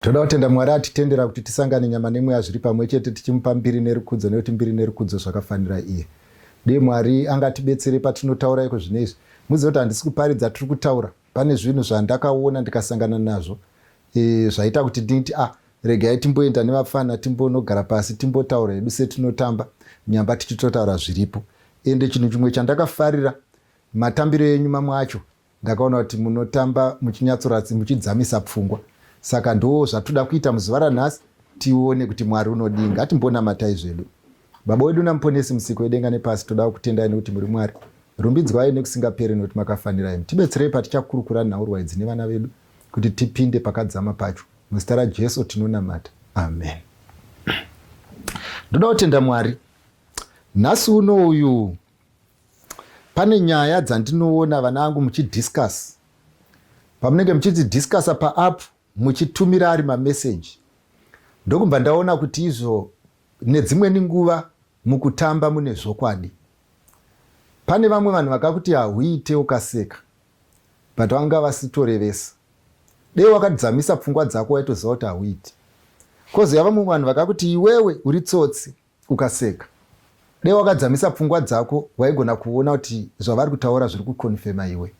toda kutenda mwari atitendera kuti tisangane nyama nemweya zviri pamwe chete tichimupa mbiri nerukudzo nekuti mbiri nerukudzo zvakafanira iye dei mwari angatibetsere patinotaura iko zvine izvi muzive kuti handisi kuparidza tiri kutaura pane zvinhu zvandakaona ndikasangana nazvo e, zvaita kuti nditi ah regai timboenda nevapfana timbonogara pasi timbotaura hedu setinotamba nyamba tichitotaura zviripo ende chinhu chimwe chandakafarira matambiro enyu mamwe acho ndakaona kuti munotamba muchinyatsoratsi muchidzamisa pfungwa saka ndo zvatoda kuita muzuva ranhasi tione kuti mwari unodii ngatimbonamatai zvedu baba wedu namuponesi musiko wedenga nepasi toda kutendai nekuti muri mwari rumbidzwai nekusingaperi nekuti makafanira imi tibetserei patichakurukura nhaurwa idzi nevana vedu kuti tipinde pakadzama pacho. Muzita raJesu tinonamata. Amen. Ndoda kutenda Mwari. Nhasi uno uyu pane nyaya dzandinoona vana vangu muchidiscuss. Pamunenge muchiti discussa paapp muchitumira ari mameseji. Ndokubva ndaona kuti izvo nedzimweni nguva mukutamba mune zvokwadi. Pane vamwe vanhu vakakuti hauite ukaseka. but vanga vasitorevesa dei wakadzamisa pfungwa dzako waitoziva kuti hauiti kozoya vamwe vanhu vakakuti iwewe uri tsotsi ukaseka dei wakadzamisa pfungwa dzako waigona kuona kuti zvavari kutaura zviri kukonfema iwe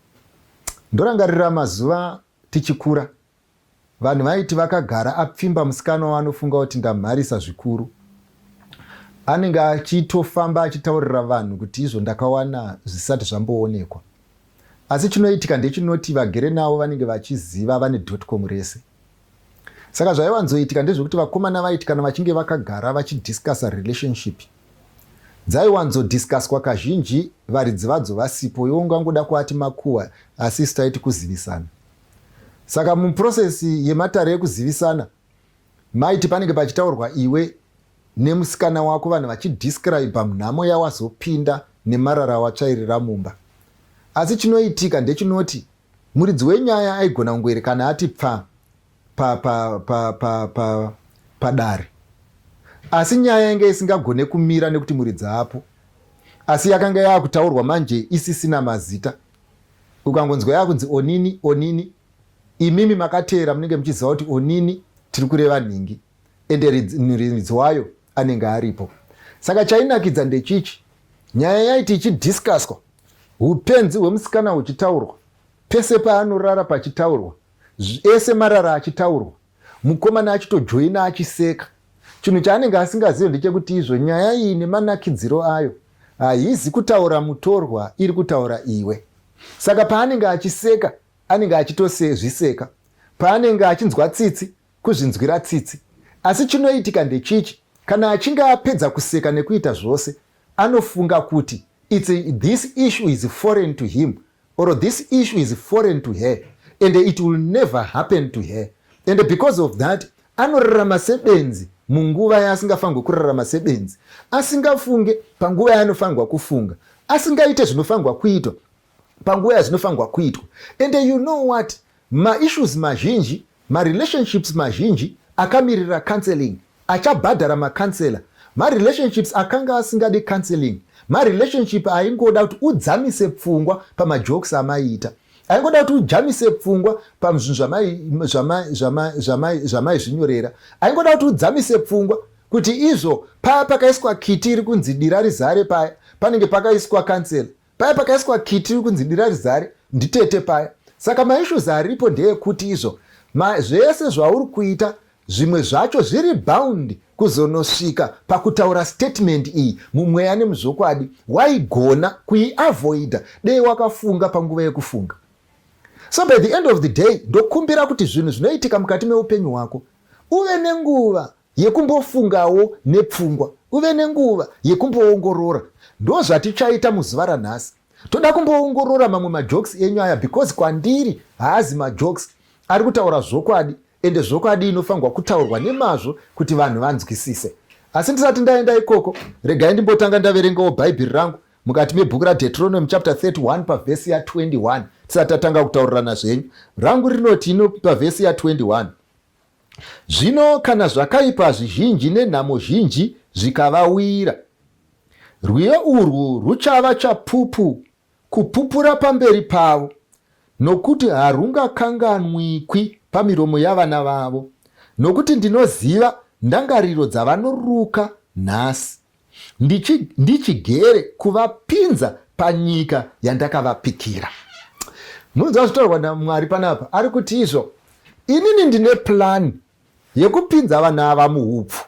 ndorangarira mazuva tichikura Vanhu vaiti vakagara apfimba musikana waanofunga kuti ndamharisa zvikuru. Anenge achitofamba achitaurira vanhu kuti izvo ndakawana zvisati zvamboonekwa. Asi chinoitika ndechinoti vagere navo vanenge vachiziva vane dotcom rese. Saka zvaiwanzoitika ndezvekuti vakomana vaiti kana vachinge vakagara vachidiscussa relationship dzaiwanzodiscusswa kazhinji varidzi vadzo vasipo, iwo ungangoda kuati makuhwa asi isu taiti kuzivisana. Saka muprocess yematare ekuzivisana maiti panenge pachitaurwa iwe nemusikana wako vanhu vachidescribe munhamo yawazopinda nemarara awatsvairira mumba asi chinoitika ndechinoti muridzi wenyaya aigona kungoerekana ati pfa padare asi nyaya yanga isingagone kumira nekuti muridzi apo asi yakanga yaakutaurwa manje isisina mazita ukangonzwa yakunzi onini onini imimi makateera munenge muchiziva kuti onini tiri kureva nhingi ende riridzi wayo anenge aripo saka chainakidza ndechichi nyaya yaiti ichidhiskaswa upenzi hwemusikana huchitaurwa pese paanorara pachitaurwa ese marara achitaurwa mukomana achitojoina achiseka chinhu chaanenge asingazive ndechekuti izvo nyaya iyi nemanakidziro ayo haizi kutaura mutorwa iri kutaura iwe saka paanenge achiseka anenge achitosezviseka paanenge achinzwa tsitsi kuzvinzwira tsitsi asi chinoitika ndechichi kana achinge apedza kuseka nekuita zvose anofunga kuti its this issue is foreign to him or this issue is foreign to her and it will never happen to her and because of that anorarama sebenzi munguva yaasingafanirwe kurarama sebenzi asingafunge panguva yaanofanirwa kufunga asingaite zvinofanirwa kuitwa panguva yazvinofanirwa kuitwa and you know what maissues mazhinji Marelationships mazhinji akamirira counselling achabhadhara macounselor. Marelationships akanga asingade counselling marelationship aingoda kuti udzamise pfungwa pamajokes amaiita. Aingoda kuti ujamise pfungwa pazvinhu zvamaizvinyorera. Aingoda kuti udzamise pfungwa kuti izvo paya pakaiswa kiti iri kunzi dira rizare paya panenge pakaiswa counselor. Paya pakaiswa kiti iri kunzi dira rizare nditete paya. Saka maissues aripo ndeekuti izvo ma, zvese zvauri kuita zvimwe zvacho zviri bound kuzonosvika pakutaura statement iyi mumweya nemuzvokwadi waigona kuiavoida dei wakafunga panguva yekufunga so by the end of the day ndokumbira kuti zvinhu zvinoitika mukati meupenyu hwako uve nenguva Yekumbofungawo nepfungwa, uve nenguva yekumboongorora. Ndozvatichaita muzuva ranhasi. Toda kumboongorora mamwe majokes enyu aya because kwandiri haazi majokes ari kutaura zvokwadi ende zvokwadi inofanirwa kutaurwa nemazvo kuti vanhu vanzwisise. Asi ndisati ndaenda ikoko, regai ndimbotanga ndaverengawo Bhaibheri rangu mukati mebhuku raDeuteronomy chapter 31 pavhesi ya 21 tisati tatanga kutaurirana zvenyu. Rangu rinoti ino pavhesi ya 21. Zvino kana zvakaipa zvizhinji nenhamo zhinji zvikavawira, rwiyo urwu rwuchava chapupu kupupura pamberi pavo, nokuti harungakanganwikwi pamiromo yavana vavo, nokuti ndinoziva ndangariro dzavanoruka nhasi. ndichigere kuvapinza panyika yandakavapikira munzwa zvitaurwa namwari panapa ari kuti izvo inini ndine plani yekupinza vana ava muupfu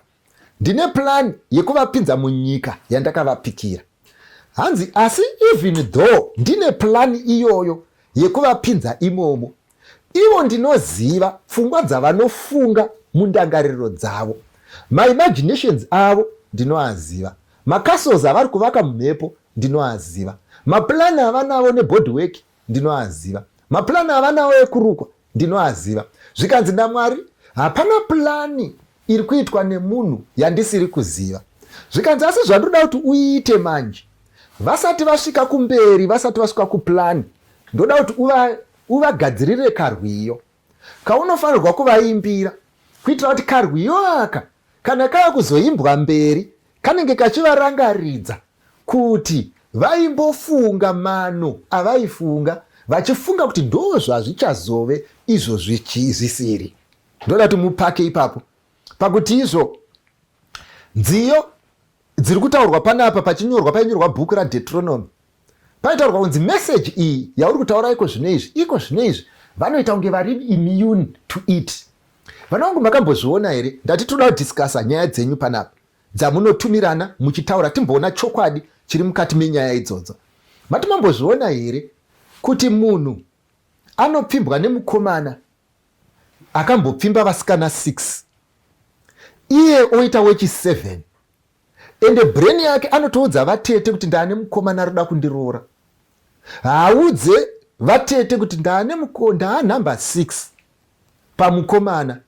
ndine plani yekuvapinza munyika yandakavapikira hanzi asi even though ndine plani iyoyo yekuvapinza imomo Ivo ndinoziva pfungwa dzavanofunga mundangariro dzavo. Maimaginations avo ndinoaziva. Macastles avari kuvaka mumhepo ndinoaziva. Maplan avanavo nebody work ndinoaziva. Maplan avanavo ekurukwa ndinoaziva. Zvikanzi naMwari, hapana plani iri kuitwa nemunhu yandisiri kuziva. Zvikanzi asi zvandoda kuti uite manje vasati vasvika kumberi vasati vasvika kuplani ndoda kuti uva Uvagadzirire karwiyo kaunofanirwa kuvaimbira kuitira kuti karwiyo aka kana kava kuzoimbwa mberi kanenge kachivarangaridza kuti vaimbofunga mano avaifunga vachifunga kuti ndoo zvazvichazove izvo zvisiri ndoda kuti mupake ipapo pakuti izvo nziyo dziri kutaurwa panapa pachinyorwa painyorwa bhuku radetronomy paitaurwa kunzi meseji iyi yauri kutaura iko zvino izvi iko zvino izvi vanoita kunge vari immune to it vana vangu makambozviona here ndati toda kudiscasa nyaya dzenyu panapa dzamunotumirana muchitaura timboona chokwadi chiri mukati menyaya idzodzo mati mambozviona here kuti munhu anopfimbwa nemukomana akambopfimba vasikana 6 iye oita wechi 7 Ende brain yake anotoudza vatete kuti ndaane mukomana arikuda kundiroora. Haaudze vatete kuti ndaane muko ndaa number 6 pamukomana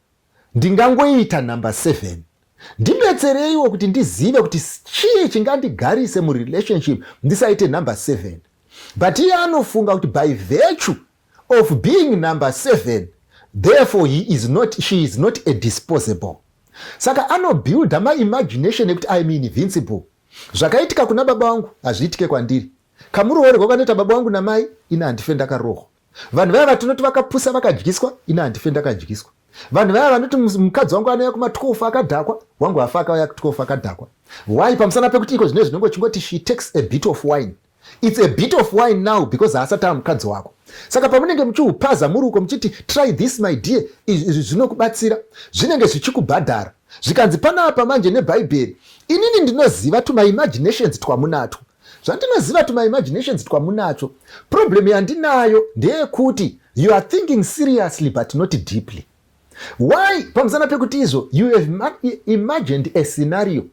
ndingangoita number 7 ndibetsereiwo kuti ndizive kuti chii chingandigarise murelationship ndisaite number 7 but iye anofunga kuti by virtue of being number seven therefore he is not, she is not a disposable saka anobuilda maimagination ekuti iam invincible zvakaitika kuna baba vangu hazviitike kwandiri kamuroori kwakanoita baba vangu namai ini handife ndakarohwa vanhu vaya vatinoti vakapusa vakadyiswa ini handife ndakadyiswa vanhu vaya vanoti mukadzi wangu anouya kuma12 akadhakwa wangu hafa akauya ku12 akadhakwa why pamusana pekuti iko zvine zvinenge chingoti she takes a bit of wine It's a bit of wine now because haasati ava mukadzi wako. Saka pamunenge muchiupaza muri uko muchiti try this my dear, izvi zvinokubatsira, zvinenge zvichikubhadhara. Zvikanzi panapa manje nebhaibheri, inini ndinoziva tumaimaginations twamunatwo. Zvandinoziva tumaimaginations twamunacho, problem yandinayo ndeyekuti you are thinking seriously but not deeply. why pamusana pekuti izvo you have imagined a scenario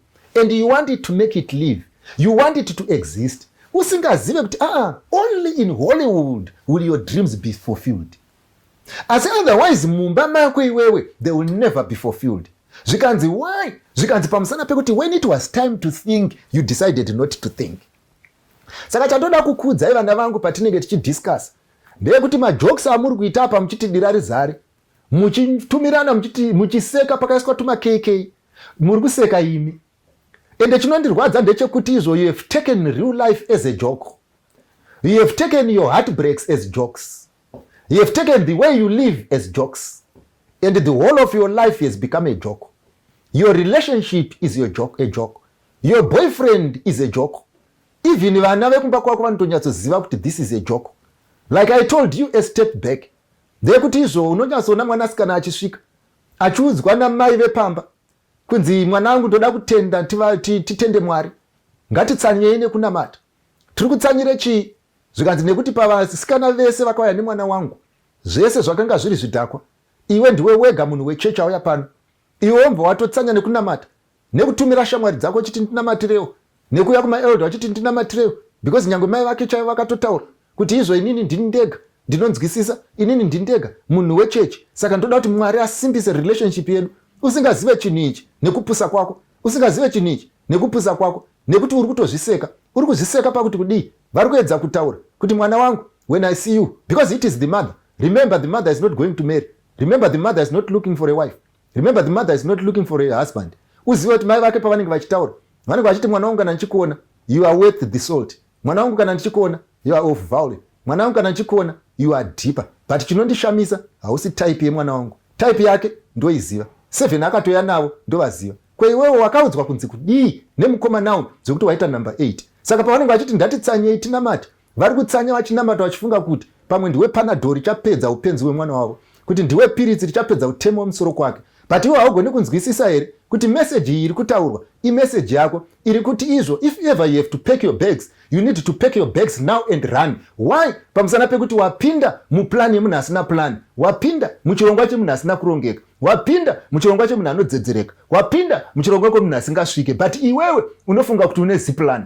and you want it to make it live you want it to exist usingazive kuti aa ah, only in hollywood will your dreams be fulfilled asi otherwise mumba mako iwewe they will never be fulfilled zvikanzi why zvikanzi pamusana pekuti when it was time to think you decided not to think saka chandoda kukudzai vana vangu patinenge tichidiscuss ndeyekuti majokes amuri kuita apa muchiti dira rizare muchitumirana muchiti muchiseka pakaiswa tuma kk muri kuseka imi ende chinondirwadza ndechekuti izvo you have taken real life as a joke you have taken your heartbreaks as jokes you have taken the way you live as jokes and the whole of your life has become a joke your relationship is your joke, a joke your boyfriend is a joke even vana vekumba kwako vanotonyatsoziva kuti this is a joke like i told you a step back ndeyekuti izvo unonyatsoona mwana asikana achisvika achiudzwa namai vepamba kunzi mwana wangu ndoda kutenda titende mwari ngatitsanyei nekunamata tiri kutsanyire chii zvikanzi nekuti pavasikana vese vakauya nemwana wangu zvese zvakanga zviri zvidhakwa iwe ndiwe wega munhu wechechi auya pano iwe wobva watotsanya nekunamata nekutumira shamwari dzako uchiti ndinamatirewo nekuuya kumaelder uchiti ndinamatirewo because nyange mai vake chaivo vakatotaura kuti izvo inini ndini ndega ndinonzwisisa inini ndini ndega munhu wechechi saka ndoda kuti mwari asimbise relationship yedu usingazive chinhu ichi nekupusa kwako usingazive chinhu ichi nekupusa kwako nekuti uri kutozviseka uri kuzviseka pakuti kudii vari kuedza kutaura kuti mwana wangu when i see you because it is the mother remember the mother is not going to marry remember the mother is not looking for a wife remember the mother is not looking for a husband uzive kuti mai vake pavanenge vachitaura vanenge vachiti mwana wangu kana ndichikuona you are worth the salt mwana wangu kana ndichikuona you are of value mwana wangu kana ndichikuona you are deeper but chinondishamisa hausi type yemwana wangu type yake ndoiziva seven akatoya navo ndovaziva kweiwewo wakaudzwa kunzi kudii nemukomana uyu zvekuti waita number eight saka pavanenge vachiti ndatitsanyei tinamati Vari kutsanya vachinamata vachifunga kuti pamwe ndiwe panadho richapedza upenzi hwemwana wavo, kuti ndiwe piritsi richapedza utemo wemusoro kwake. But iwe haugoni kunzwisisa here kuti meseji iyi iri kutaurwa imeseji yako iri kuti izvo if ever you have to pack your bags you need to pack your bags now and run why pamusana pekuti wapinda mupulani yemunhu asina pulani wapinda muchirongwa chemunhu asina kurongeka wapinda muchirongwa chemunhu anodzedzereka wapinda muchirongwa kwemunhu asingasvike but iwewe unofunga kuti une zipulani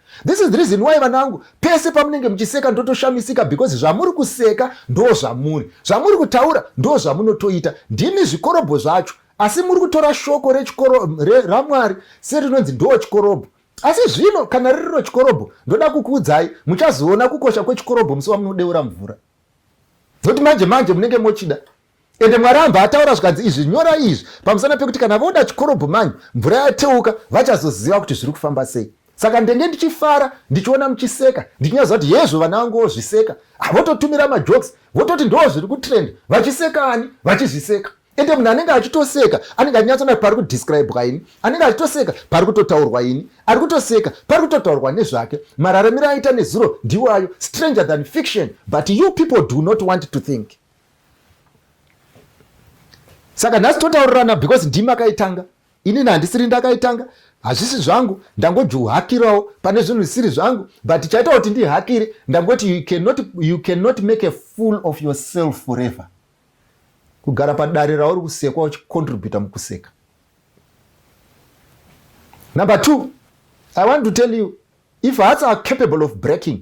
This is the reason why vanangu pese pamunenge muchiseka ndotoshamisika because zvamuri kuseka ndo zvamuri zvamuri kutaura ndo zvamunotoita ndimi zvikorobho zvacho asi muri kutora shoko ramwari serinonzi ndo chikorobho asi zvino kana ririro chikorobho ndoda kukuudzai muchazoona kukosha kwechikorobho musi wamunodeura mvura nokuti manje manje munenge mochida ende mwari amba ataura zvikanzi izvi nyora izvi pamusana pekuti kana voda chikorobho manyu mvura yateuka vachazoziva kuti zviri kufamba sei saka ndenge ndichifara ndichiona muchiseka ndichinyaziva kuti hezvo vana vangu vozviseka vototumira majoks vototi ndoo zviri kutrend vachiseka ani vachizviseka ende munhu anenge achitoseka anenge achinyatsona pari kudescribwa ini anenge achitoseka pari kutotaurwa ini ari kutoseka pari kutotaurwa nezvake mararamiro aita nezuro ndiwayo stranger than fiction but you people do not want to think saka nhasi totaurirana because ndimi akaitanga inini handisiri ndakaitanga hazvisi zvangu ndangojuhakirawo pane zvinhu zvisiri zvangu but chaita kuti ndihakire ndangoti you cannot, you cannot make a fool of yourself forever kugara padare rauri kusekwa uchicontributa mukuseka number two i want to tell you if hearts are capable of breaking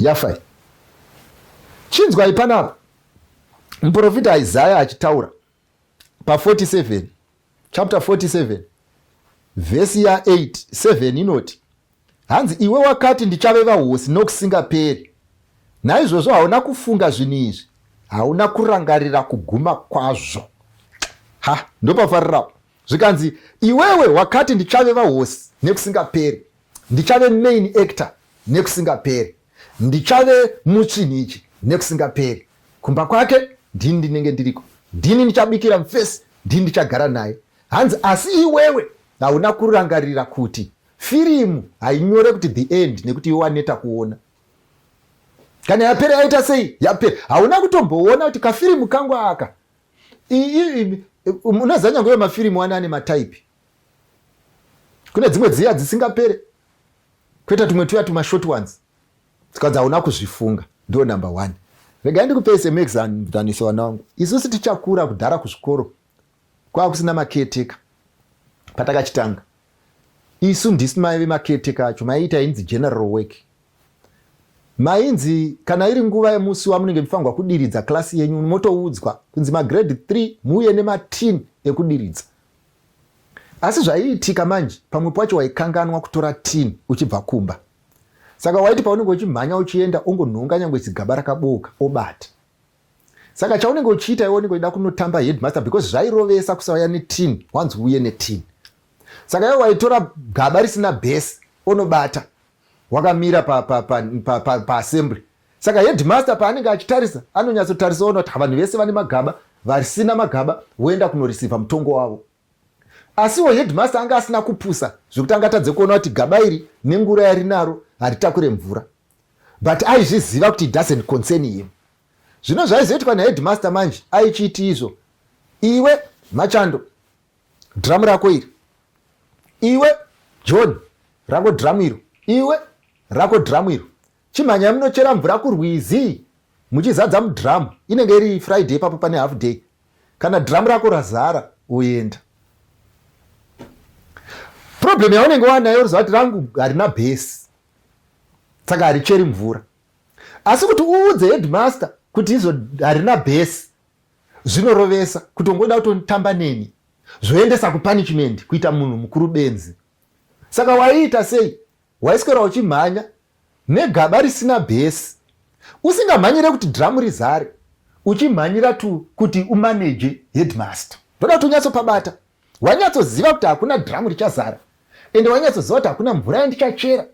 yafai chinzwai panapa muprofita isaya achitaura pa47 chapter 47 vhesi ya 8 7 inoti hanzi iwe wakati ndichave vahosi nokusingaperi naizvozvo hauna kufunga zvinhu izvi hauna kurangarira kuguma kwazvo ha ndopafarirapo zvikanzi iwewe wakati ndichave vahosi nekusingaperi ndichave main actor nekusingaperi ndichave muchinhi ichi nekusingaperi kumba kwake ndini ndinenge ndiriko ndini ndichabikira mfesi ndini ndichagara naye hanzi asi iwewe hauna kurangarira kuti firimu hainyore kuti the end nekuti iwe waneta kuona kana yapera yaita sei yapera hauna kutomboona kuti kafirimu kangu aka unoziva nyange uyo mafirimu wani ane mataipi kune dzimwe dziya dzisingapere kwoita tumwe tuya tumashort ones tikazi hauna kuzvifunga ndo number one regai ndikupei semexanzaniso vana wangu isusu tichakura kudhara kuzvikoro kwava kusina maketeka patakachitanga isu ndisi maive maketeka acho maiita inzi general work Mainzi kana iri nguva yemusi wamunenge mufanirwa kudiridza klasi yenyu motoudzwa kunzi magrade 3 muuye nematin ekudiridza asi zvaiitika manje pamwe pacho waikanganwa kutora tin uchibva kumba saka waiti paunenge uchimhanya uchienda ongonhonga nyange chigaba rakabooka obata saka chaunenge uchiita iwe unenge uida kunotamba headmaster because zvairovesa kusauya netin wanzi uye netin saka iwe waitora gaba risina bhesi onobata wakamira pa, pa, pa, pa, pa, pa assembly saka headmaster paanenge achitarisa anonyatsotarisa ona kuti vanhu vese vane magaba vasina magaba voenda kunorisivha mutongo wavo asiwo headmaster anga asina kupusa zvekuti anga atadze kuona kuti gaba iri nengura yarinaro haritakure mvura but aizviziva kuti doesn't concern him zvino zvaizoitwa naheadmaster manje aichiiti izvo iwe machando Drum rako iri. Iwe John rako drum iro. Iwe rako drum iro. Chimhanya munochera mvura kurwizi muchizadza mudrum inenge iri Friday papo pane half day. Kana drum rako razara uenda. Problem yaunenge wanayo rizati rangu harina base. Saka haricheri mvura. Asi kuti uudze headmaster kuti izo harina base. zvinorovesa kuti ungoda kutotamba neni zvoendesa kupunishment kuita munhu mukuru benzi saka waiita sei waiswera uchimhanya negaba risina bhesi usingamhanyire kuti dhiramu rizare uchimhanyira tu kuti umaneje headmaster ndoda kuti unyatsopabata wanyatsoziva kuti hakuna dhiramu richazara ende wanyatsoziva kuti hakuna mvura yandichachera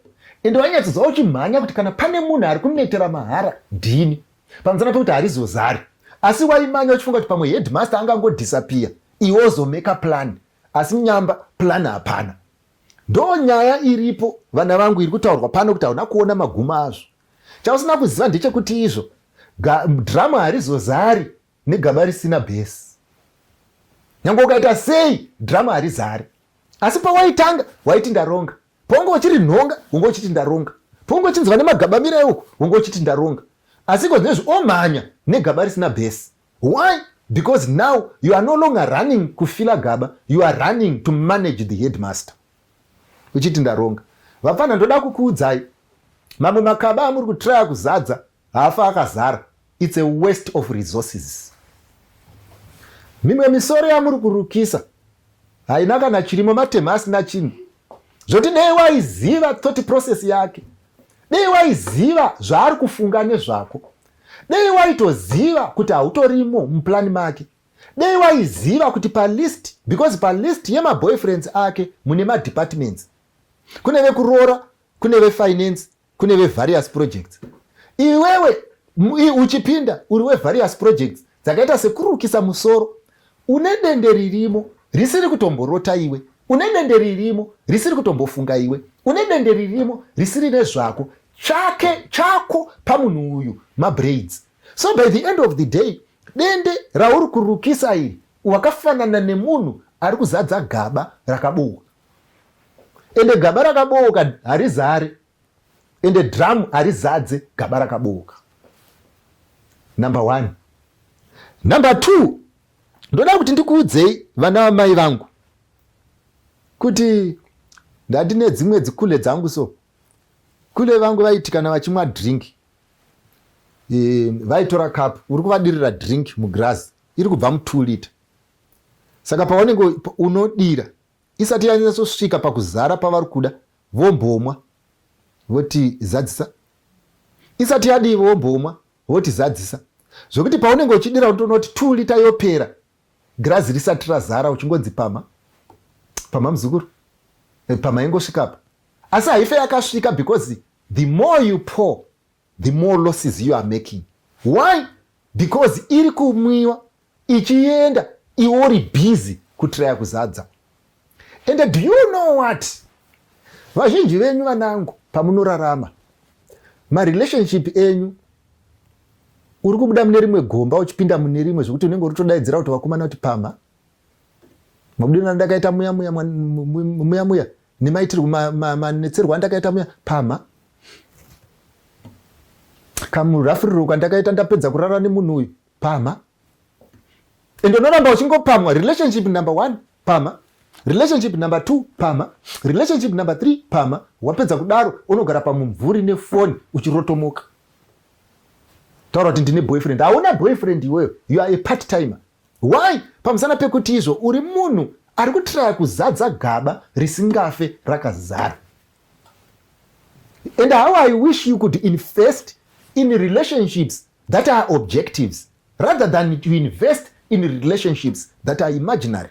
ende wanyatsoziva uchimhanya kuti kana pane munhu ari kunetera mahara ndini pamusana pekuti harizozari asi waimanya uchifunga kuti pamwe headmaster angangodhisapiya iwe ozomeka plan asi nyamba plan hapana ndo nyaya iripo vana vangu iri kutaurwa pano kuti hauna kuona maguma azvo chausina kuziva ndechekuti izvo dhiramu harizozari negaba risina bhesi nyange ukaita sei drama harizari asi pawaitanga waiti ndaronga paunge uchiri nhonga unge uchiti ndaronga paunge uchinzwa nemagaba mira euko unge uchiti ndaronga asi ko zvinezvi omhanya negaba risina bhesi why because now you are no longer running kufila gaba you are running to manage the headmaster uchiti ndaronga vapfanha ndoda kukuudzai mamwe makaba amuri kutraya kuzadza Hafa akazara it's a waste of resources. Mimwe misoro yamuri kurukisa haina kana chirimo matema asina chinhu zvoti dei waiziva thought process yake dei waiziva zvaari kufunga nezvako dei waitoziva kuti hautorimo muplan make dei waiziva kuti palist because palist yemaboyfriends ake mune madepartments kune vekuroora kune vefinance kune vevarious projects iwewe uchipinda uri wevarious projects dzakaita sekurukisa musoro une dende ririmo risiri kutomborota iwe une dende ririmo risiri kutombofunga iwe une dende ririmo risiri nezvako tsvake chako pamunhu uyu mabraids so by the end of the day dende rauri kurukisa iri wakafanana nemunhu ari kuzadza gaba rakabowa ende gaba rakabooka harizare ende dramu harizadze gaba rakabooka number one number two ndoda kuti ndikuudzei vana vamai vangu kuti ndandine dzimwe dzikule dzangu so kule vangu vaiti kana vachimwa drink e, vaitora cup uri kuvadirira drink mugirazi iri kubva mutwo liter saka paunenge unodira isati yanyatsosvika pakuzara pavari kuda vombomwa voti zadzisa isati yadii vombomwa voti zadzisa zvekuti paunenge uchidira unotoona kuti two lita yopera girazi risati razara uchingonzi pama pama muzukuru eh, pama ingosvikapa asi haife yakasvika because the more you pour the more losses you are making why because iri kumwiwa ichienda iwe uri busy kutiraya kuzadza and do you know what vazhinji venyu vanangu pamunorarama marelationship enyu uri kubuda mune rimwe gomba uchipinda mune rimwe zvekuti unenge uri todaidzira kuti vakomana kuti pama mabudirana ndakaita muya muya muya muya nemaitirwo manetserwo ma, ma, andakaita muya pama kamurafuriro kandakaita ndapedza kurara nemunhu uyu pama ende unoramba uchingopamwa relationship number one pama relationship number two pama relationship number three pama wapedza kudaro unogara pamumvuri nefoni uchirotomoka taura kuti ndine boyfriend hauna boyfriend iweyo you are a part timer Why? Pamusana pekuti izvo uri munhu ari kutiraya kuzadza gaba risingafe rakazara. And how I wish you could invest in relationships that are objectives rather than to invest in relationships that are imaginary.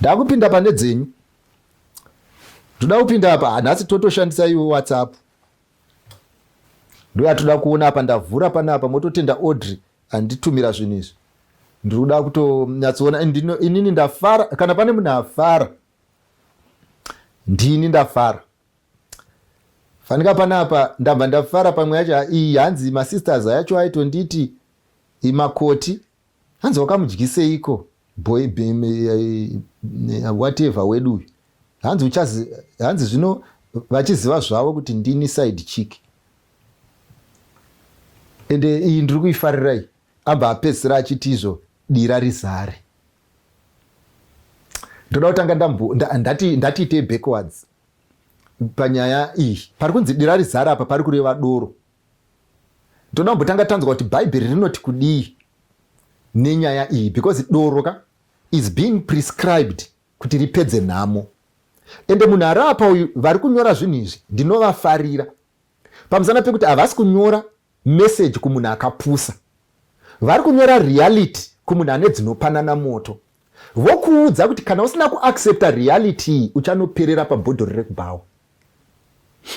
ndakupinda pane dzenyu ndoda kupinda apa nhasi totoshandisa iwe whatsapp ndoyatoda kuona apa ndavhura pane apa mototenda audrey anditumira zvinhu izvi ndiri kuda kutonyatsoona inini ndafara kana pane munhu afara ndini ndafara fanika pane apa ndabva ndafara pamwe yacho iyi hanzi masisters ayacho aitonditi imakoti hanzi wakamudyiseiko boy whatever wedu uyu hanzi uchazi hanzi zvino vachiziva zvavo kuti ndini side chick ende iyi ndiri kuifarirai abva apedzisira achiti izvo dira rizare ndoda kutanga ndatiitei backwards panyaya iyi pari kunzi dira rizare apa pari kureva doro Toda kumbotanga tanzwa kuti Bhaibheri rinoti kudii nenyaya iyi because doro ka is being prescribed kuti ripedze nhamo ende munhu ari apa uyu vari kunyora zvinhu izvi ndinovafarira pamusana pekuti havasi kunyora meseji kumunhu akapusa vari kunyora reality kumunhu ane dzinopanana moto Vokuudza kuti kana usina kuaccepta reality iyi uchanoperera pabhodhori rekubhawa.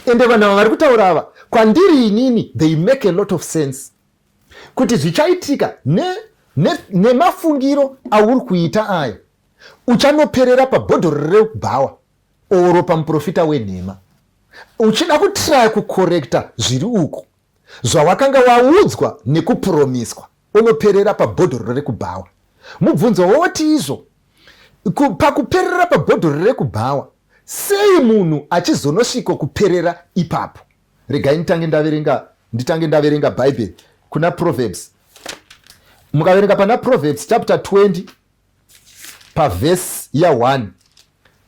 Ende vanhu ava vari kutaura ava kwandiri inini they make a lot of sense kuti zvichaitika nemafungiro ne, ne auri kuita aya uchanoperera pabhodhori rekubhawa oro pamuprofita wenhema uchida kutraya kukorekta zviri uko Zvawakanga waudzwa nekupuromiswa unoperera pabhodhoro rekubhawa. Mubvunzo woti izvo pakuperera pabhodhoro rekubhawa sei munhu achizonosviko kuperera ipapo. Regai nditange ndaverenga nditange ndaverenga bhaibheri kuna proverbs mukaverenga pana proverbs chapter 20 pavhesi ya1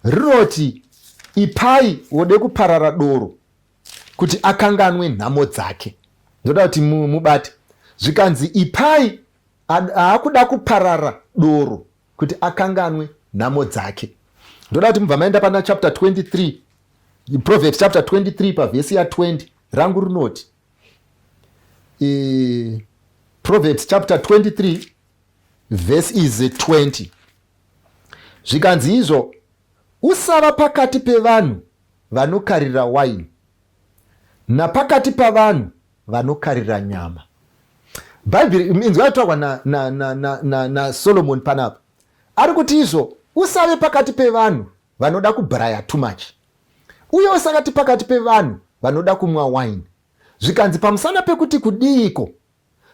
rinoti ipai wode kuparara doro kuti akanganwe nhamo dzake ndoda kuti mubate zvikanzi ipai aakuda kuparara doro kuti akanganwe nhamo dzake ndoda kuti mubva maenda pana chapter 23 proverbs chapter 23 pavhesi ya 20 rangu rinoti e, proverbs chapter 23 vhesi is 20 zvikanzi izvo usava pakati pevanhu vanokarira waini napakati pavanhu vanokarira nyama bhaibheri inzwa yataurwa nasolomoni na, na, na, na panapa ari kuti izvo usave pakati pevanhu vanoda kubraya too much uye usakati pakati pevanhu vanoda kumwa waini zvikanzi pamusana pekuti kudiiko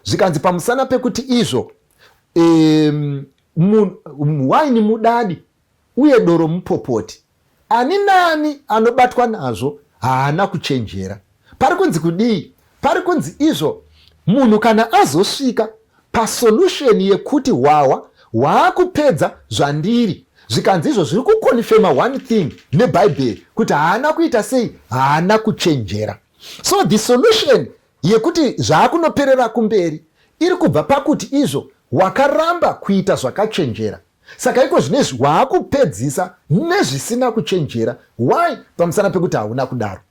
zvikanzi pamusana pekuti izvo um, waini mudadi uye doro mupopoti ani nani anobatwa nazvo haana kuchenjera pari kunzi kudii pari kunzi izvo munhu kana azosvika pasolution yekuti hwahwa hwaakupedza zvandiri zvikanzi izvo zviri kukonfema one thing nebhaibheri kuti haana kuita sei haana kuchenjera so the solution yekuti zvaakunoperera kumberi iri kubva pakuti izvo wakaramba kuita zvakachenjera saka iko zvinezvi waakupedzisa nezvisina kuchenjera why pamusana pekuti hauna kudaro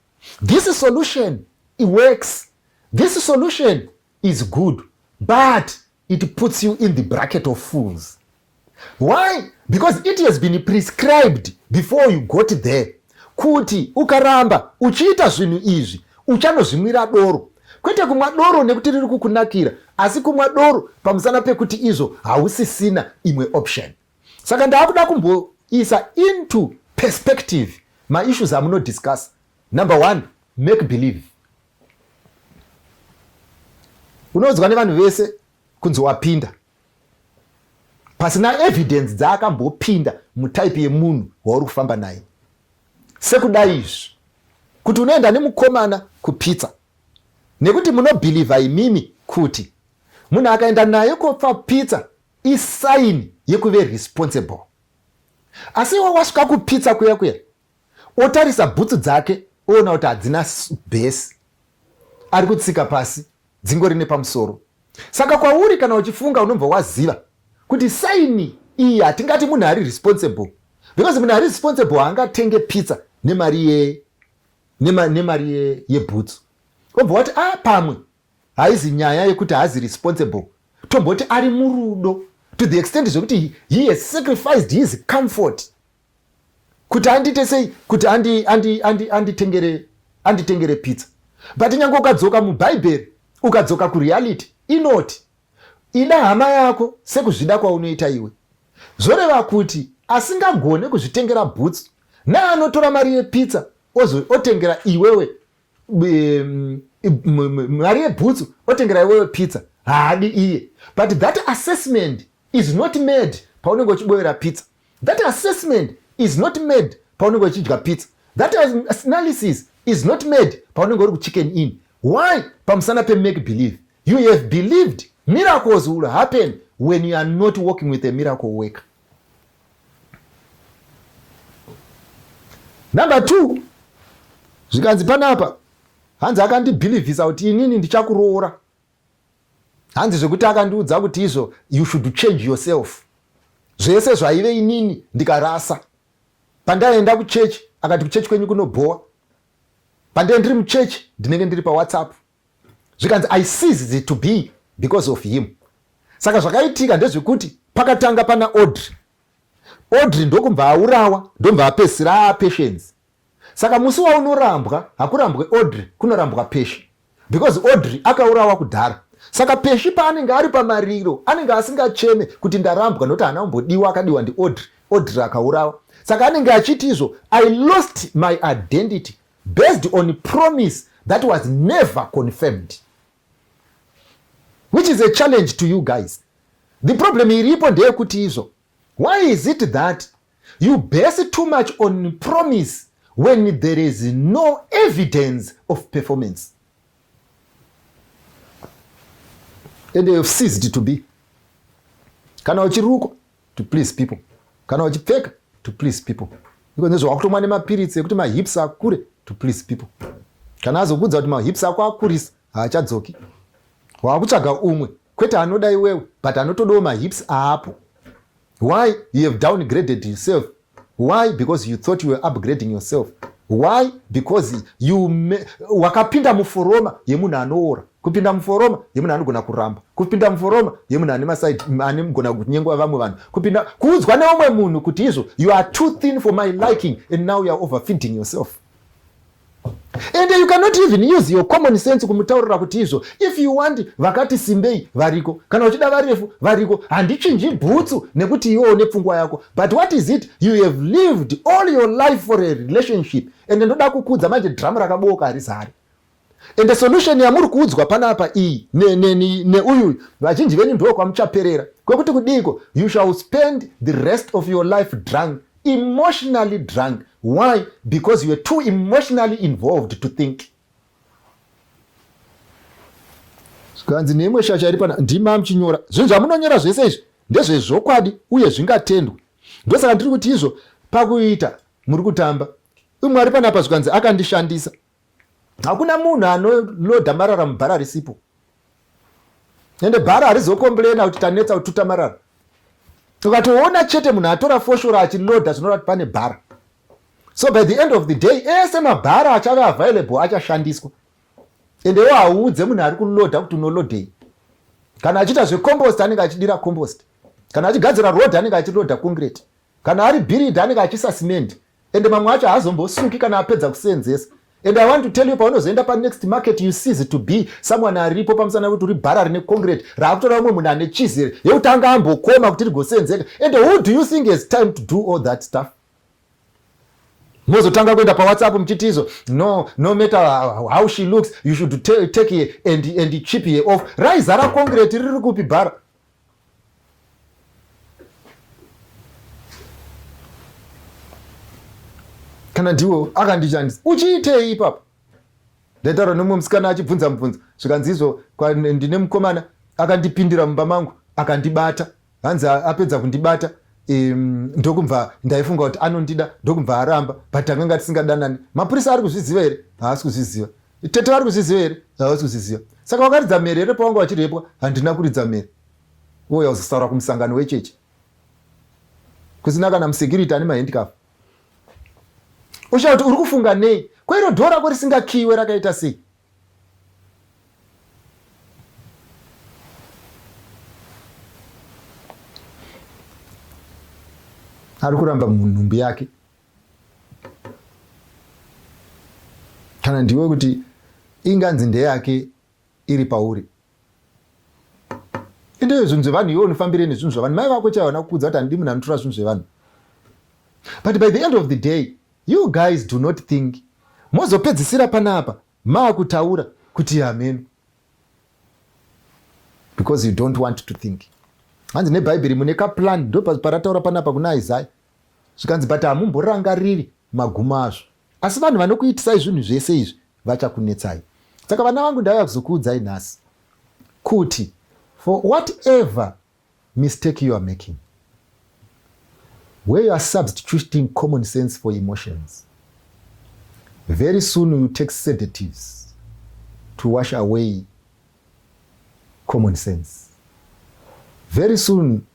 this solution works this solution is good but it puts you in the bracket of fools why because it has been prescribed before you got there kuti ukaramba uchiita zvinhu izvi uchanozvimwira doro kwete kumwa doro nekuti riri kukunakira asi kumwa doro pamusana pekuti izvo hausisina imwe option saka ndaakuda kumboisa into perspective maissues amunodiscuss number one make believe unoudzwa nevanhu vese kunzi wapinda pasina evidence dzaakambopinda mutype yemunhu wauri kufamba naye sekudai izvi kuti unoenda nemukomana kupitsa nekuti munobhilivha imimi kuti munhu akaenda naye kopfa pitsa isaini yekuve responsible asi iwe wasvika kupitsa kuya kuya otarisa bhutsu dzake oona kuti hadzina bhesi ari kutsika pasi dzingori nepamusoro saka kwauri kana uchifunga unobva waziva kuti saini iyi hatingati munhu ari responsible because munhu ari responsible haangatenge pizza nemari ye nemari ye, yebhutsu obva wati a ah, pamwe haizi nyaya yekuti haazi responsible tomboti ari murudo to the extent zvekuti he has sacrificed his comfort kuti andiite sei kuti anditengere andi, andi, andi pizza but nyange ukadzoka mubhaibheri ukadzoka kureality inoti ida hama yako sekuzvida kwaunoita iwe zvoreva kuti asingagone kuzvitengera bhutsu naanotora mari yepizza otengera iwewe mari yebhutsu otengera iwewe pizza haadi iye but that assessment is not made paunenge uchiboyera pizza That assessment is not made paunenge uchidya pizza. That analysis is not made paunenge uri kuchicken in. Why? Pamusana pemake believe. You have believed miracles will happen when you are not working with a miracle worker. Number two, zvikanzi panapa hanzi akandibhilivhisa kuti inini ndichakuroora hanzi zvekuti akandiudza kuti izvo you should change yourself zvese zvaive inini ndikarasa pandaienda kuchechi akati kuchechi kwenyu kunobhowa pandee ndiri muchechi ndinenge ndiri pawhatsapp zvikanzi i seized it to be because of him saka zvakaitika ndezvekuti pakatanga pana audrey audrey ndokubva aurawa ndobva apesira apatience Saka musi waunorambwa hakurambwe Audrey kunorambwa Peshi because Audrey akaurawa kudhara. Saka Peshi paanenge ari pamariro anenge asingacheme kuti ndarambwa nokuti haana kumbodiwa akadiwa ndiAudrey. Audrey akaurawa. Saka anenge achiti izvo I lost my identity based on promise that was never confirmed which is a challenge to you guys the problem iripo ndeyekuti izvo why is it that You base too much on promise when there is no evidence of performance. And they have ceased to be. Kana uchirukwa to please people. Kana uchipfeka to please people. Iko ndizvo wakutomwa nemapiritsi ekuti mahips akure to please people. Kana azokuudza kuti mahips ako akurisa haachadzoki. Wakutsvaga umwe kwete anoda iwewe but anotodawo mahips aapo why you have downgraded yourself why because you thought you were upgrading yourself why because you wakapinda muforoma yemunhu anoora kupinda muforoma yemunhu anogona kuramba kupinda muforoma yemunhu ane masaidi anegona kunyengwa vamwe vanhu kupinda kuudzwa neumwe munhu kuti izvo you are too thin for my liking and now youare overfeeding yourself and you cannot even use your common sense kumutaurira kuti izvo if you want vakati simbei variko kana uchida varefu variko handichinji bhutsu nekuti iwewo nepfungwa yako but what is it you have lived all your life for a relationship and ndoda kukudza manje dhiramu rakabooka harizari and the solution yamuri kuudzwa panapa iyi neuyu vazhinji venyu ndo kwamuchaperera kwekuti kudiiko you shall spend the rest of your life drunk emotionally drunk why because you are too emotionally involved to think zvikanzi neimwe shasha iri pana ndima muchinyora zvinhu zvamunonyora zvese izvi ndezvezvokwadi uye zvingatendwe ndosaka ndiri kuti izvo pakuita muri kutamba umwe ari panapa zvikanzi akandishandisa hakuna munhu anolodha marara mubhara risipo ende bhara harizokomburena kuti tanetsa kututa marara ukatoona chete munhu atora foshora achilodha zvinoreva kuti pane bhara so by the end of the day ese mabhara achave available achashandiswa ende wo hauudze munhu ari kulodha kuti unolodhei kana achiita zvecompost anenge achidira compost kana achigadzira road anenge achilodha concrete Kana ari bhiridha anenge achisa cement ende mamwe acho haazombosuki kana apedza kuseenzesa and i want to tell you paunozoenda panext market you sees to be someone aripo pamusana kuti uri bhara rine concrete raakutora vamwe munhu ane cheese here yekuti anga ambokoma kuti rigoseenzeka and who do you think has time to do all that stuff mozotanga kuenda pawhatsapp muchiti izo no no matter how she looks you should take her and, and chip her off raizara concrete riri kupi bhara kana ndiwo akandishandisa uchiitei ipapo ndaitaura nomwe musikana achibvunza mubvunzo zvikanzi izvo ndine mukomana akandipindira mumba mangu akandibata hanzi apedza kundibata um, ndokubva ndaifunga kuti anondida ndokubva aramba but tanganga tisingadanani mapurisa ari kuzviziva here haasi kuzviziva Tete vari kuzviziva here? Havasi kuzviziva. Saka vakaridza mhere here pavanga vachirepwa? Handina kuridza mhere. Uye uzosaura kumusangano wechechi. Kusina kana musecurity ane mahandicap. Ushaya kuti uri kufunga nei? Ko iro dhoo rako risingakiiwe rakaita sei? Ari kuramba munhumbi yake. kana ndiwe kuti inganzi ndeyake iri pauri itoyo zvinhu zvevanhu iwe unofambire nezvinhu zvevanhu mai vako chaivo vana kukudza kuti handidi munhu anotora zvinhu zvevanhu but by the end of the day you guys do not think mozopedzisira panapa maakutaura kuti hameno because you don't want to think hanzi nebhaibheri mune kaplan ndoparataura panapa kuna isaya zvikanzi but hamumborangariri magumo azvo asi vanhu vanokuitisai zvinhu zvese izvi vachakunetsai saka vana vangu ndauya kuzokuudzai nhasi kuti for whatever mistake you are making where you are substituting common sense for emotions very soon you take sedatives to wash away common sense very soon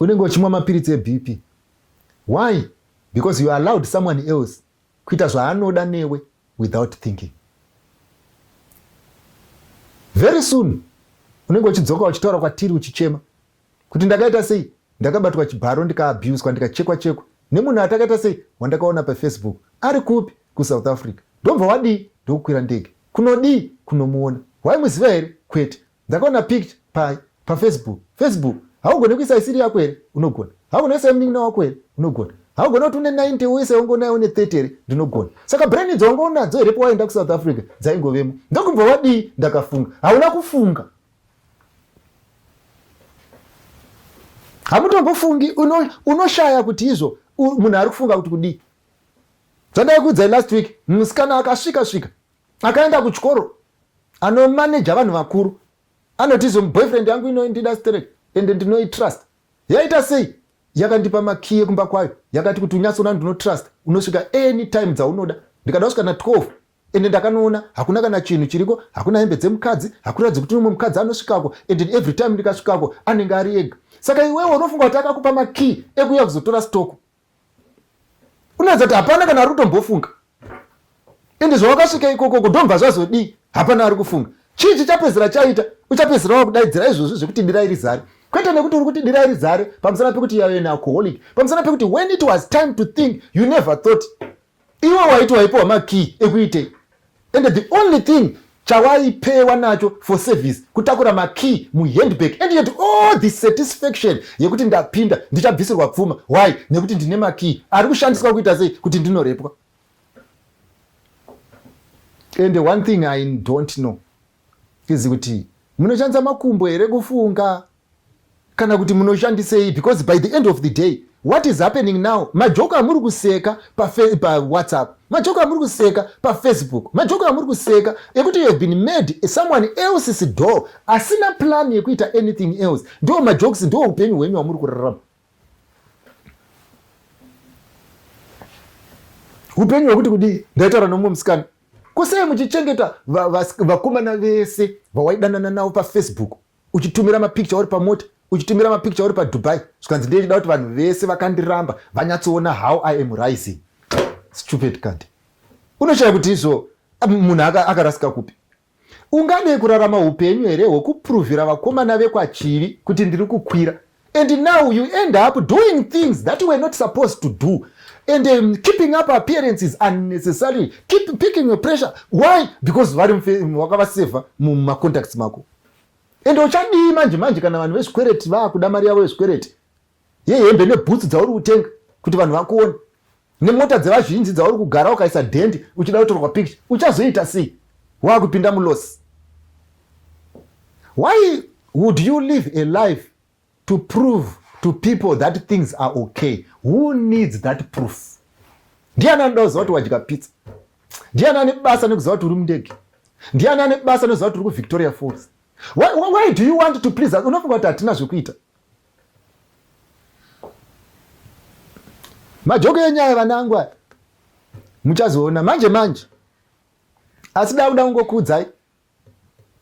unenge uchimwa mapiritsi ebp why because you allowed someone else kuita zvaanoda newe without thinking very soon unenge uchidzoka uchitaura kwatiri uchichema kuti ndakaita sei ndakabatwa chibharo ndikaabuswa ndikachekwa chekwa nemunhu atakaita sei wandakaona pafacebook ari kupi kusouth africa ndobva wadii ndokukwira ndege kunodii kunomuona waimuziva here kwete ndakaona pict pai pafacebook facebook haugone kuisa isiri yako here unogona haugone kuisa yemunin'ina wako here unogona haugone kuti une 90 uise wange unayo une 30 here ndinogona saka brain idzo wange unadzo here pawaenda kusouth africa dzaingovemo ndokubva wadii ndakafunga hauna kufunga hamutombofungi unoshaya uno kuti izvo munhu ari kufunga kuti kudii zvandai kuudzai last week musikana akasvika svika akaenda kuchikoro anomaneja vanhu vakuru anoti izo boyfriend yangu inoindida straight ende ndinoitrust yaita sei yakandipa makiye kumba kwayo yakati kuti unyatsoona ndinotrust unosvika any time dzaunoda ndikada kusvika na 12 ende ndakanoona hakuna kana chinhu chiriko hakuna hembe dzemukadzi hakuratidzi kuti umwe mukadzi anosvikako and every time ndikasvikako anenge ari ega saka iwewe unofunga kuti akakupa makey ekuya kuzotora stoko unoedza kuti hapana kana ari kutombofunga ende zvawakasvika ikoko ko ndomva zvazodii hapana ari kufunga chii chichapedzera chaita uchapedzera wakudaidzira izvozvi zvekuti dira iri zare kwete nekuti uri kuti dira iri zare pamusana pekuti yave nealcoholic pamusana pekuti when it was time to think you never thought iwe waiti waipiwa makey ekuitei and the only thing chawaipewa nacho for service kutakura makey muhandbag and yet all the satisfaction yekuti ndapinda ndichabvisirwa pfuma why nekuti ndine makey ari kushandiswa kuita sei kuti ndinorepwa and one thing i don't know is kuti munoshandisa makumbo here kufunga kana kuti munoshandisei because by the end of the day what is happening now majoko amuri kuseka pawhatsapp pa majoko amuri kuseka pafacebook majoko amuri kuseka ekuti you have been made someone else's door asina plan yekuita anything else ndo majokes ndo upenyu hwenyu hwamuri kurarama upenyu hwekuti kudii ndaitaura nomumwe musikana kusei muchichengeta vakomana vese vawaidanana navo pafacebook uchitumira mapicture uri pamota uchitumira mapicture uri padubai zvikanzi ndiye chida kuti vanhu vese vakandiramba vanyatsoona how i am rising stupid kant unoshaya kuti izvo munhu akarasika kupi unganei kurarama upenyu here hwekupuruvhira vakomana vekwachivi kuti ndiri kukwira and now you end up doing things that you were not supposed to do and um, keeping up appearances unnecessarily keep picking your pressure why because vari wakavasevha mumacontacts mako ende uchadii manje manje kana vanhu vezvikwereti vakuda mari yavo yezvikwereti yehembe nebhutsu dzauri kutenga kuti vanhu vakuone nemota dzevazhinji dzauri kugara ukaisa dhendi uchida kutorwa picture uchazoita sei waakupinda mulosi why would you live a life to prove to people that things are okay who needs that proof ndiani anoda kuziva kuti wadya pizza ndiani ane basa nekuziva kuti uri mundege ndiani ane basa nekuziva kuti uri kuvictoria falls why, why do you want to please unofunga kuti hatina zvekuita majoko enyaya vanangu aya muchazoona manje manje asi dauda kungokuudzai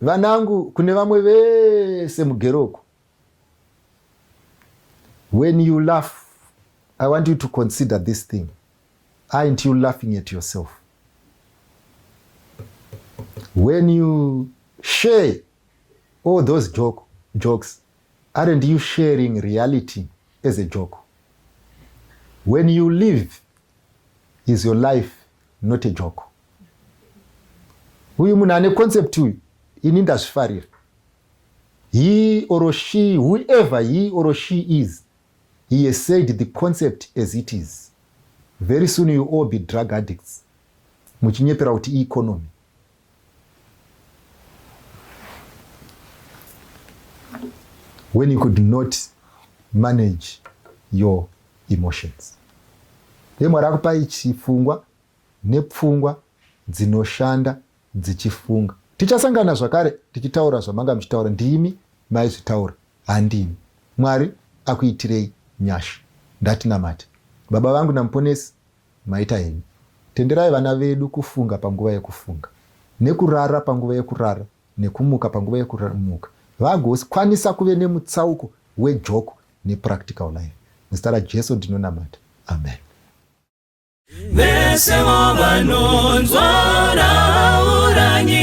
vanangu kune vamwe vese mugero uku when you laugh i want you to consider this thing aint you laughing at yourself when you share all those joke, jokes Aren't you sharing reality as a joke? When you live is your life not a joke. Uyu munhu ane concept uyu ini ndazvifarira. He or she, whoever he or she is, he has said the concept as it is very soon you all be drug addicts muchinyepera kuti economy when you could not manage your emotions ye mwari akupai chifungwa nepfungwa dzinoshanda dzichifunga tichasangana zvakare tichitaura zvamanga muchitaura ndimi maizvitaura handimi mwari akuitirei nyasha ndatinamati baba vangu namuponesi Maita henyu. Tenderai vana vedu kufunga panguva yekufunga, nekurara panguva yekurara, nekumuka panguva yekuramuka vagokwanisa kuve nemutsauko wejoko nepractical life. Muzita raJesu ndinonamata. Amen. Vesevo vanonzwa rauranyi